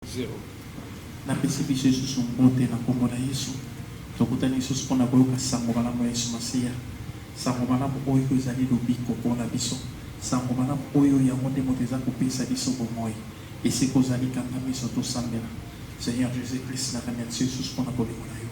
Zero. Napesi biso lisusu mbote na nkombo na Yesu. Tokutani lisusu mpo na koyoka nsango malamu ya Yesu Masiya. Nsango malamu oyo ezali lobiko mpo na biso. Nsango malamu oyo, yango nde moto eza kopesa biso bomoi. Esika ozali, kanga miso, tosambela. Seigneur Jesus Christ, na remercie yo lisusu mpo na bolingo na yo.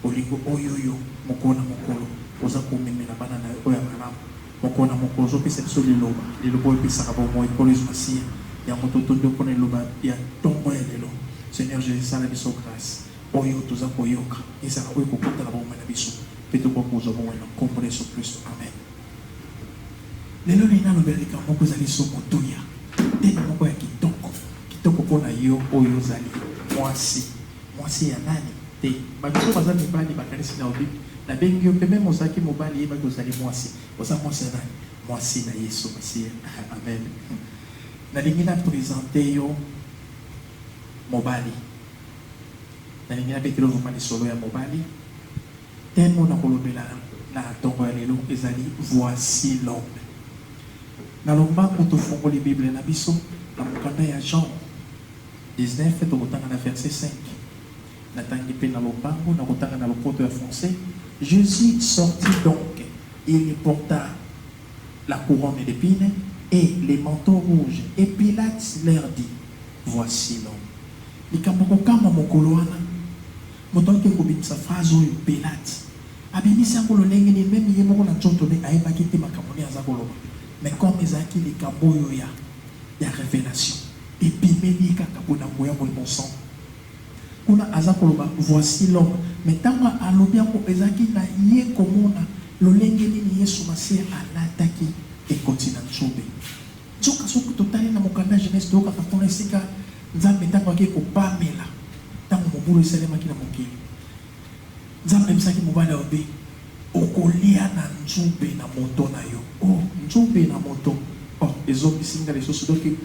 Bolingo oyo yo, mokolo na mokolo, oza komemela bana na yo oyo ya malamu. Moko na moko ozopesa biso liloba, liloba oyo epesaka bomoi nkolo yesu masiya yango totondi yo mpona liloba ya ntongo ya lelo seigneur jesus sala biso grace oyo toza koyoka ezala oyo ekokota na bomoi na biso mpe tokoka kozwa bomoi na nkombo na yesu kristo amen lelo nini nalobe likambo moko ezali so motuya teme moko ya kitoko kitoko mpona yo oyo ozali mwasi Mwasi ya nani? Te batu oyo baza mibali bakanisi na obi na bengi yo pe meme ozalaki mobali yeba ke ozali mwasi oza mwasi ya nani? Mwasi na yesu masiya amen nalingi na presente yo mobali nalingi na betelo vrema lisolo ya mobali temo na kolobela na tongo ya lelo ezali voici l'homme na lombango tofongoli bible na biso na mokanda ya jean 19 tokotanga na verse 5 natangi pe na lombango nakotanga na lopoto ya français Jesus sortit donc il lui porta la couronne d'epines et le manteau rouge et Pilate leur dit voici l'homme likambo ya kokamwa mokolo wana moto akoki kobimisa phrase oyo Pilate abimisi yango lolenge nini meme ye moko na nzoto ne ayebaki te makambo nini aza koloba mais comme ezalaki likambo oyo ya ya revelation Ebimeli kaka boye na nguya Molimo Santu. Kuna aza koloba Voici l'homme mais tango alobi yango ezalaki na ye komona lolenge nini Yesu Masiya alataki ekoti na nzube. Nzoka soki totali na mokanda ya Genese toyokaka kuna esika Nzambe tango akei kopamela tango mobulu esalemaki na mokili. Nzambe ayebisaki mobali ya Obe, Okolia na nzube na moto na yo. Oh, nzube na moto! Oh, ezongisi ngai lisusu doki.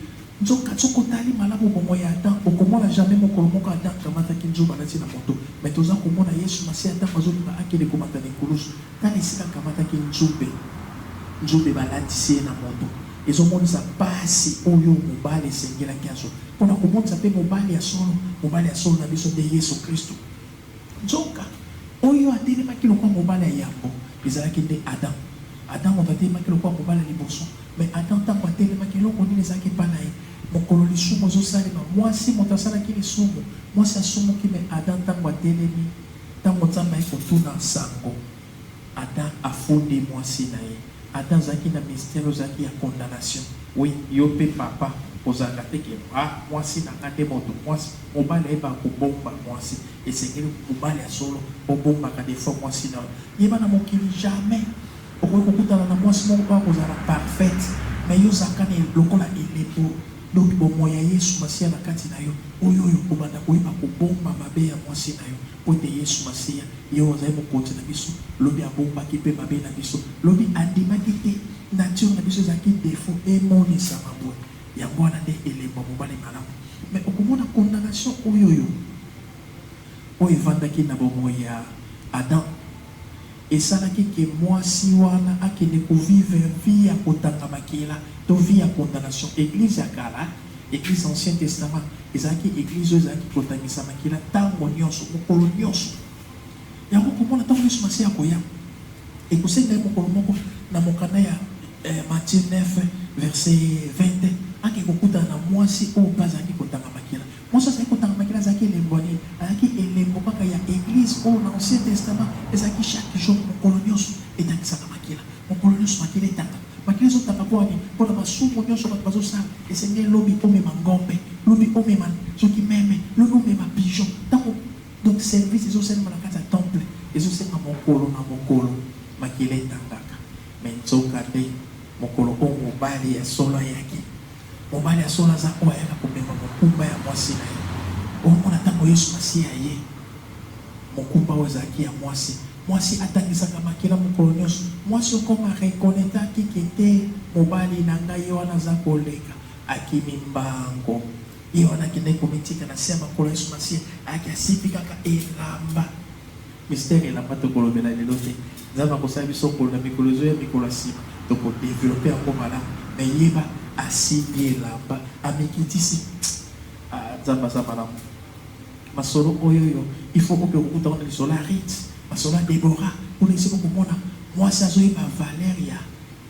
Nzoka, soki otali malamu bomoi ya Adam, okomona jamais mokolo moko Adam akamataki nzube alati na moto. Mais toza komona Yesu Masiya tango azolinga akende komata na ekulusu, tala esika akamataki nzube. Nzube balatisi ye na moto. Ezomonisa pasi oyo mobali esengelaki azwa. Pona komonisa pe mobali ya solo, mobali ya solo na biso nde Yesu Kristu. Nzoka, oyo atelemaki lokola mobali ya yambo, ezalaki nde Adam. Adam moto atelemaki lokola mobali ya liboso. Mais Adam tango atelemaki, eloko nini ezalaki epai na ye? Mokolo lisumu ezosalema, mwasi moto asalaki lisumu, mwasi asumuki, mais Adam tango atelemi, tango Nzambe ayaki kotuna sango, ata a fundi mwasi na ye ata azalaki na mystère ozalaki ya condamnation oui yo pe papa kozalaka te ke ah mwasi na nga nde moto mwasi mobali ayebaka kobomba mwasi esengeli mobali ya solo bobombaka de fois mwasi na yo yeba na mokili jamais okoki kokutana na mwasi moko po akozala parfaite mais yo ozalaka na lokola elembo donc bomoyi ya yesu masiya na kati na yo oyo oyo obanda koyeba kobomba mabe ya mwasi na yo Mpo ete Yesu Masiya, ye oyo azali Mokonzi na biso, lobi abombaki mpe mabe na biso, lobi andimaki te nature na biso ezalaki defaut emonisama boye, yango wana nde elembo ya mobali malamu. Mais okomona condamnation oyoyo oyo evandaki na bomoi ya Adam esalaki que mwasi wana akende ko vivre vie ya kotanga makila to vie ya condamnation. Eglise ya kala. Eglise Ancien Testament ezalaki eglise oyo ezalaki kotangisa makila ntango nyonso, mokolo nyonso. Yango okomona ntango nyonso Masiya akoya, ekosenga ye mokolo moko na mokanda ya eh, Matthieu 9 verset 20 ake kokutana na mwasi oyo mpe azalaki kotanga makila. Mwasi azalaki kotanga makila azalaki elembo nini? Azalaki elembo kaka ya eglise oyo na Ancien Testament ezalaki chaque jour, mokolo nyonso etangisaka makila, mokolo nyonso makila etanga Makila ezo tanga pwani pona masumu nionso batu bazo sala esengeli lobi omema ngombe lobi omema soki meme lobi omema pigeon tango donc service ezo salema na kati ya temple ezo senga mokolo na mokolo makila etangaka mais nzoka nde mokolo oyo mobali ya solo ayaki mobali ya solo aza oyo ayaka komema mokumba ya mwasi na ye omona tango yesu masiya aye mokumba oyo ezalaki ya mwasi. Mwasi atangisaka makila mokolo nionso. Mwasi okoma a reconnaitaki que te mobali na ngai ye wana aza koleka, akimi mbango. Ye wana akendaki komitika na se ya makolo ya Yesu Masiya, ayaki asimbi kaka elamba. Mistere elamba tokolobela lelo te. Nzambe akosala biso ngolu na mikolo ezoya, mikolo ya sima toko developper yango malamu. Mais yeba asimbi elamba, amikitisi. Tss! Ah, Nzambe aza malamu. Masolo oyoyo il faut oke kokuta ngo na lisolo ya Ruth, masolo ya Deborah kuna esika okomona muasi azoyeba valeur ya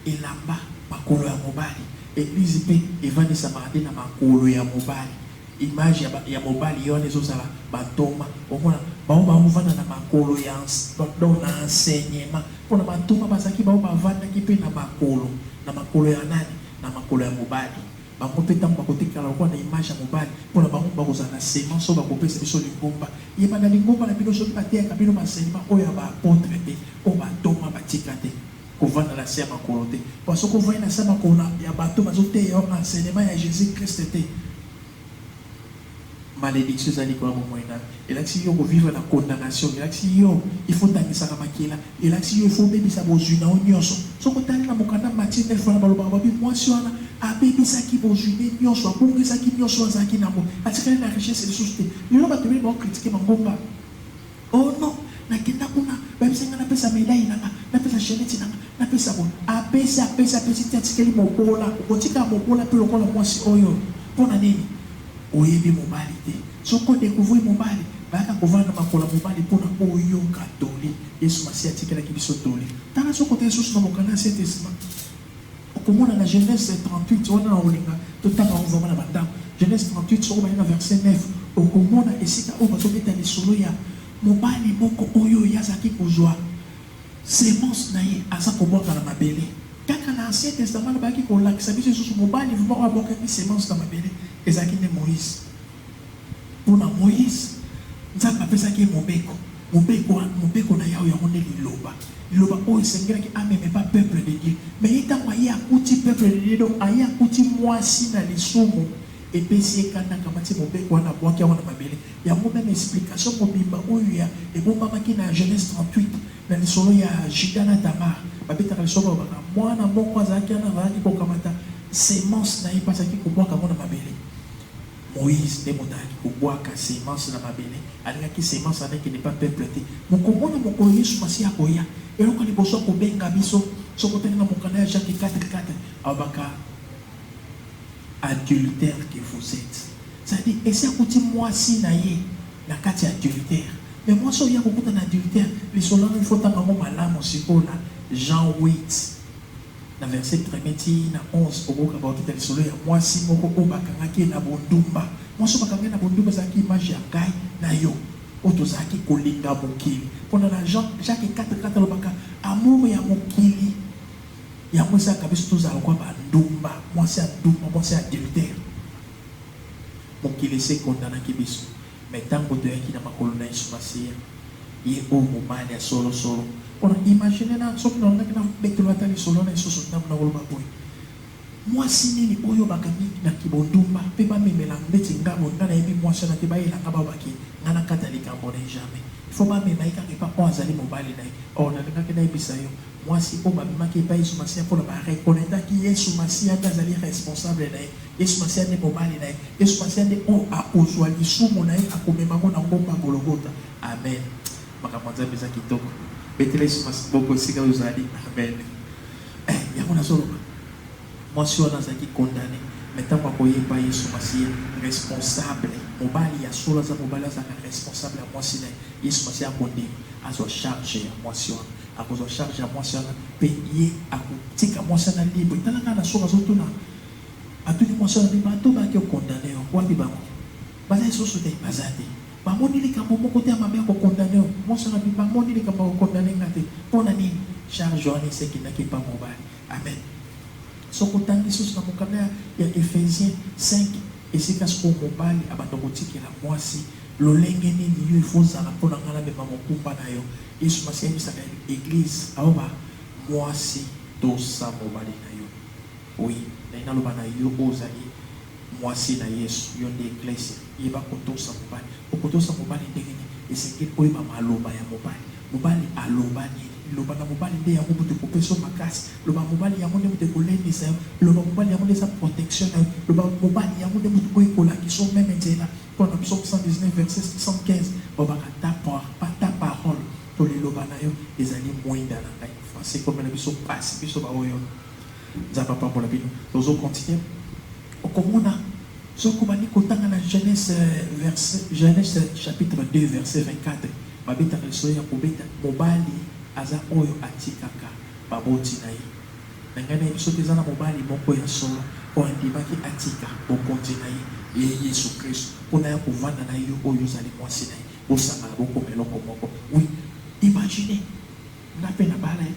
elamba, makolo ya mobali. Eglise pe evandisamaka nde na makolo ya mobali. Image ya ba ya mobali ye wana ezozala ba ntoma. Okomona bango baovanda na makolo ya ense donc na enseignement. Pona ba ntoma bazalaki baoyo bavandaki pe na makolo, na makolo ya nani? Na makolo ya mobali. Bango pe tango bakotikala lokola na image ya mobali, pona bango bakozala na semence oyo bakopesa biso lingomba. Yeba na lingomba na bino soki bateyaka bino ba enseignements oyo ya ba apotres te, oyo ba ntoma batika te, kovanda na se ya makolo te. Pona soki ovandi na se ya makolo ya bato oyo bazoteya yo enseignement ya Jesus Christ te, Malediction eza likolo ya bomoyi na yo. Elakisi yo ko vivre na condamnation. Elakisi yo il faut otangisaka makila. Elakisi yo il faut obebisa bozwi na yo nionso. Soki otali na mokanda Matthieu neuf wana balobaka ba bi mwasi wana abebisaki bozwi ne nionso, abungisaki nionso oyo azalaki na yango. Atikali na richesse lisusu te. Lelo bato ebele bao critiquer mangomba. Oh non nakenda kuna bayebisa nga napesa medaille na nga napesa chainette na nga napesa boye apesi apesi apesi ti atikeli mobola okotika mobola pe lokola muasi oyo pona nini oyebi mobali te soki o decouvrir mobali bayaka kovanda na makolo ya mobali pona oyoka toli yesu masiya atikelaki biso toli tala soki otangi lisusu na mokanda ya saint testament Okomona na Genese 38, wana na olinga totanga yango vraiment na bandako. Genese 38, soki obandi na verse 9, okomona esika oyo bazobeta lisolo ya mobali moko oyo ye azalaki kozwa semence na ye, aza kobwaka na mabele. Kaka na Ancien Testament nde bayaki kolakisa biso lisusu mobali vraiment oyo abwakaki semence na mabele, ezalaki nde Moïse. Mpo na Moïse, Nzambe apesaki ye mobeko. Mobeko wana, mobeko na Yawe yango nde Liloba. Liloba oyo esengelaki ameme ba peuple de Dieu. Mais ye tango aye akuti peuple de Dieu, donc aye akuti mwasi na lisumu, epesi ye kanda, akamati ye mobeko wana abuaki yango na mabele. Yango meme explication mobimba oyo ya ebombamaki na Genese 38 na lisolo ya Juda na Tamar. Babetaka lisolo balobaka, mwana moko azalaki wana azalaki kokamata semence na ye mpe azalaki kobuaka yango na mabele. Moïse nde moto ayaki kobwaka semence na mabele, alingaki semence wana ekende epai ya peuple te. Mokombo na mokolo Yesu Masiya akoya, eloko ya liboso akobenga biso, soki otangi na mokanda ya Jacques quatre quatre, alobaka adultère que vous etes, c'est à dire esi akuti mwasi na ye na kati ya adultère. Mais mwasi oyo ye akokuta na adultère, lisolo yango il faut otanga yango malamu sikoyo na Jean huit. Na verse premier ti na 11, okokaka kokita lisolo ya mwasi moko oyo bakangaki ye na bondumba. Mwasi oyo bakanga ye na bondumba ezalaki image ya ngai na yo, oyo tozalaki kolinga mokili. Pona na Jean Jacques 4, 4 alobaka amour ya mokili yango esalaka biso tozala lokola ba ndumba, mwasi ya ndumba, mwasi ya adultère. Mokili esi ekondanaki biso. Mais tango toyaki na makolo na Yesu Masiya, Ye oyo Mobali ya solo solo, po na imaginer nanu soki nalongaki nabetelo ata lisolo na isusu tango nakoloba boye, Mwasi nini oyo bakangi na kibondumba pe bamemela ndeti nga boye, nga nayebi mwasi wana te, bayela nga bawa bake nga nakata likambo na ye jamais. Il faut bamema ye kaka epa oyo azali mobali na ye. Or nalingaki nayebisa yo. Mwasi oyo babimaki epai Yesu Masiya mpo na ba reconnaitaki Yesu Masiya nde azali responsable na ye, Yesu Masiya nde mobali na ye, Yesu Masiya nde oyo akozua lisumu na ye, akomema yango na ngomba Gologota. Amen! Makambo ya Nzambe eza kitoko. Betela Yesu Masiya maboko esika ozali. Amen! Eh, yango nazoloba. Mwasi wana azalaki condamne, mais ntango akoya epai Yesu Masiya, responsable, mobali ya solo aza mobali, azalaka responsable ya mwasi na ye. Yesu Masiya akondima, azwa charge ya mwasi wana. Akozwa charge ya mwasi wana mpe ye akotika mwasi wana libre. Tala kaka na soki azotuna, atuni mwasi wana mpe bato bake ko condamner yo wapi bango? Baza lisusu te? Baza te? Bamoni likambo moko te ya mabe ya ko condamner yo? Mwasi wana mpe bamoni likambo ya ko condamner nga te. Mpo na nini? Charge wana esi ekendaki epai mobali. Amen. Soki otangi lisusu na mokanda ya Ephesie 5, esika sikoyo mobali abanda kotikela mwasi lolenge nini yo il faut ozala mpo na ngai namema mokumba na yo, Yesu masiya ayebisaka eglise awa ba muasi tosa mobali na yo oui nalingi naloba na yo oyo ozali muasi na yesu yo nde eglise yeba kotosa mobali okotosa mobali ndenge nini esengeli oyeba maloba ya mobali mobali aloba nini liloba na mobali nde yango moto ekopesa yo makasi loba mobali yango nde moto ekolendisa yo loba mobali yango nde eza protection na yo loba mobali yango nde moto oyo ekolakisa yo meme nzela Mpo na Psaume 119, verset 75, balobaka ta par, pas ta parole, mpo liloba na yo ezali mwinda na ngai. Français ekomela biso mpasi biso baoyo. Nzambe apambola bino. Tozo continuer. Okomona soki obandi kotanga na Genèse verset, Genèse chapitre 2 verset 24, babetaka lisolo ya kobeta mobali aza oyo atikaka baboti na ye. Na ngai nayebi soki eza na mobali moko ya solo oyo andimaki atika bokonzi na ye, ye Yesu Kristu, po naya kovanda na ye, yo oyo ozali mwasi na ye, bosangana bokoma eloko moko. Oui, imaginez! Nga pe nabala ye,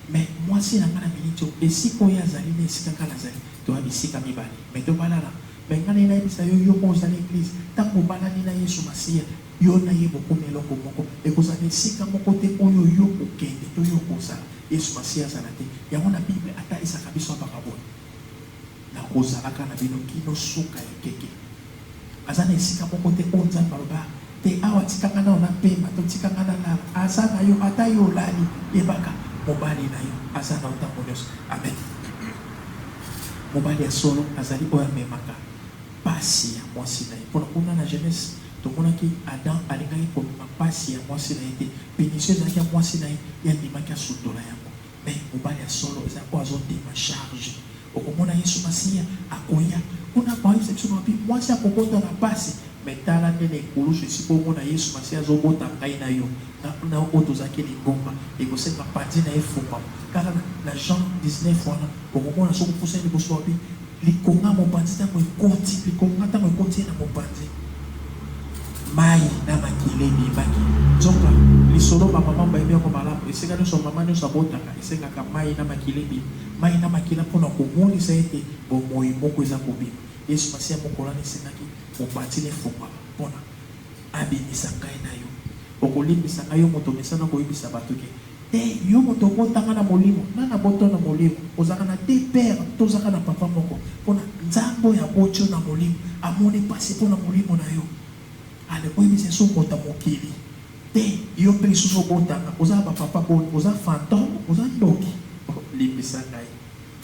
mais mwasi na nga na minute oyo, esika oyo ye azali na esika nga nazali, toya bisika mibale, mais tobalana. Mais nga naye nayebisa yo, yo oyo ozali eglise, tangu obalani na Yesu Masiya, Yo na ye bokomi eloko moko. Ekozala na esika moko te oyo yo okokende to yo okozala, Yesu Masiya azala te. Yango na Bible atalisaka biso abaka boye, Nakozalaka na bino kino suka ya ekeke. Aza na esika moko te oyo Nzambe aloba, Te awa, tika nga nano na pema to tika nga na lala. Aza na yo ata yo olali. Yebaka, mobali na yo aza na yo tango nionso. Amen. Mobali ya solo azali oyo amemaka pasi ya mwasi na ye. Pona kuna na Genese. Tomonaki Adam alingaki komema pasi ya mwasi na ye te, punition ezalaki ya mwasi na ye, ye andimaki asundola yango. Mais mobali ya solo eza oyo azo ndima charge. Okomona Yesu Masiya akoya, kuna akoyebisa biso mabe mwasi akobota na pasi. Mais tala nde na ekulusu esi bongo na Yesu Masiya azo bota ngai na yo na na oyo tozalaki lingomba, ekosenga panzi na ye efungwama. Kaka na na Jean 19 wana, okomona soki opusani liboso wapi, Likonga ya mopanzi ntango ekoti, likonga ntango ekoti ye na mopanzi, mai na makila ebimaki. Nzoka lisolo ba mama bayebi yango malamu, esika nyonso mama nyonso abotaka esengaka mai na makila ebima, mai na makila mpo na komonisa ete bomoi moko eza kobima. Yesu Masiya mokolani esengaki mopanzi na efungwama mpo na abimisa ngai na yo. Okolimbisa ngai, yo moto omesana koyebisa bato ke Te yo moto obotama na molimo nani aboto na molimo ozalaka na deux père to ozaka na papa moko pona nzambe oyo aboti yo na molimo amoni pasi pona molimo na yo ale oyebisa esi okota mokili te yo mpe lisusu obotanga oza na ba papa boni oza fantome oza ndoki oh limbisa ngai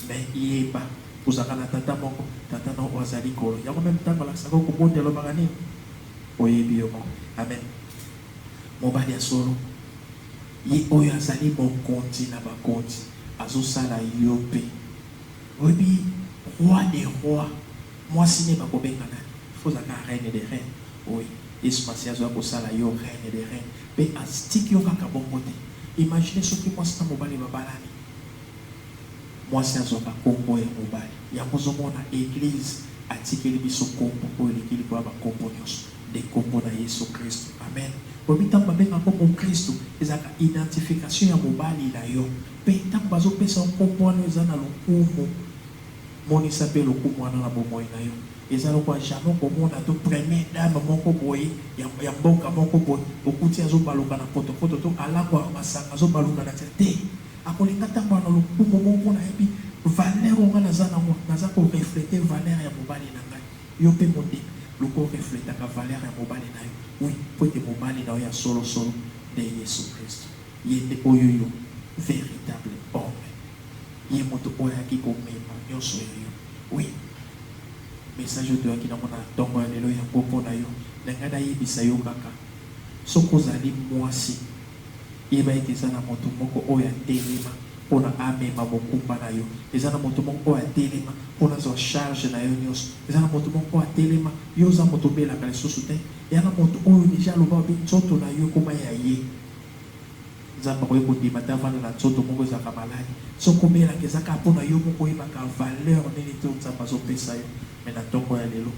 mais yeba ozalaka na tata moko tata na oyo azali kolo yango meme ntango alakisaka yo kobota elobaka nini oyebi yo moko amen mobali ya solo. Ye oyo azali mokonzi na bakonzi azo sala yo pe oyebi roi de roi mwasi ne bako benga nani il faut ozala kaka reine de reine oui yesu masiya azo ya kosala yo reine de reine pe aztiki yo kaka bongo te imagine soki mwasi na mobali ba balani mwasi azwaka kombo ya mobali yango ozo mona eglise atikeli biso kombo oyo eleki likolo ya ba kombo nionso. Nde kombo na yesu christu amen. Oyebi ntango babengaka yo mokristu ezalaka identification ya mobali na yo mpe ntango bazopesa yo nkombo wana eza na lokumu monisa mpe lokumu wana na bomoi na yo eza lokola jamais okomona to premier dame moko boye ya ya mboka moko boye okuti azobaluka na potopoto to alangwa na masanga azobaluka na nzela te akolinga atambola na lokumu moko mpo nayebi valeur oyo ngai naza nango naza ko reflete valeur ya mobali na ngai Yo pe munding luka o refletaka valeur ya mobali nayo oui po ete mobali nayo ya solo solo nde yesu christu ye nde oyo yo veritable homme ye mutu oyo ayaki ko mema nionso ya yo oui message oyo toyaki nango na tongo ya lelo yango po nayo na ngai na yebisa yo kaka soki ozali muasi Yeba ete eza na moto moko oyo atelema pona amema mokumba na yo. Eza na moto moko oyo atelema pona azwa charge na yo nionso. Eza na moto moko oyo atelema, yo oza moto obelaka lisusu te. Ya na moto oyo deja aloba lobi nzoto na yo ekoma ya ye. Nzambe akoki kondima te avanda na nzoto moko ezalaka malade. Soki obelaka eza kaka pona yo moko oyebaka valeur nini to Nzambe azo pesa yo. Mais na tongo ya lelo,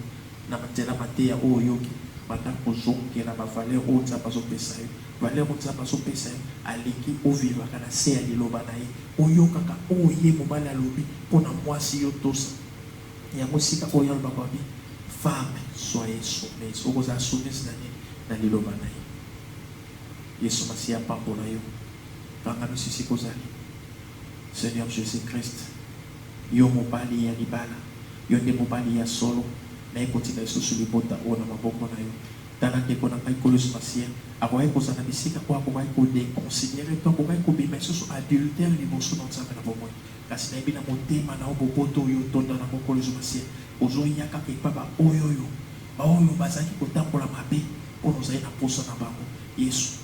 na nzela mateya oyo oyoki, banda kozongela ba valeur oyo Nzambe azo pesa yo. Valeur oyo Nzambe azo pesa yo alingi o vivraka na se ya liloba na ye, oyokaka oyo ye mobali alobi pona muasi yo tosa yango esika oyo ye alobaka olobi femme soyez soumise okozala soumise na nini? Na liloba na ye yesu masiya apambola yo vanga misu esika ozali seigneur jesus christ yo mobali ya libala yo nde mobali ya solo naye kotika lisusu libota oyo na maboko na yo Tala ndeko na ngai Kolos Masien akokaki kozala na bisika oyo akokaki ko deconsiderer to akokaki kobima lisusu adultère liboso na Nzambe na bomoi. Kasi nayebi na motema na yo boboto oyo otonda na yango Kolos Masien, ozo ya kaka epa ba oy'oyo, ba oyo bazalaki kotambola mabe pona ozali na posa na bango. Yesu,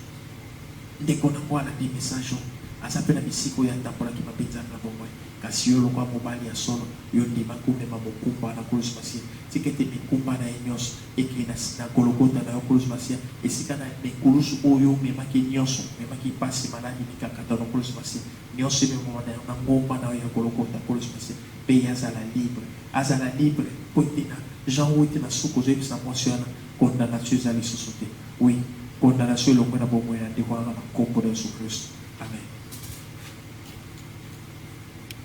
ndeko na ngo alandi message oyo, aza pe na bisika oyo atambolaki mabe Nzambe na bomoi. Kasi yo lokola mobali ya solo, yo ondimaki omema mokumba wana Kolos Masien, tika ete mikumba na ye nionso, Ekende na na Gologota na yo, Nkolo Masiya, esika na na ekulusu oyo omemaki nyonso, omemaki mpasi, maladi, mikakatano, Nkolo Masiya, nyonso ememama na na ngomba na yo ya Gologota, Nkolo Masiya, mpe ye azala libre, azala libre, mpo ete na Jean Huit ete na suka ozoyebisa mwasi wana condamnation eza lisusu te. Oui, condamnation elongwe na bomoi na ndeko wana na nkombo na Yesu Klisto. Amen.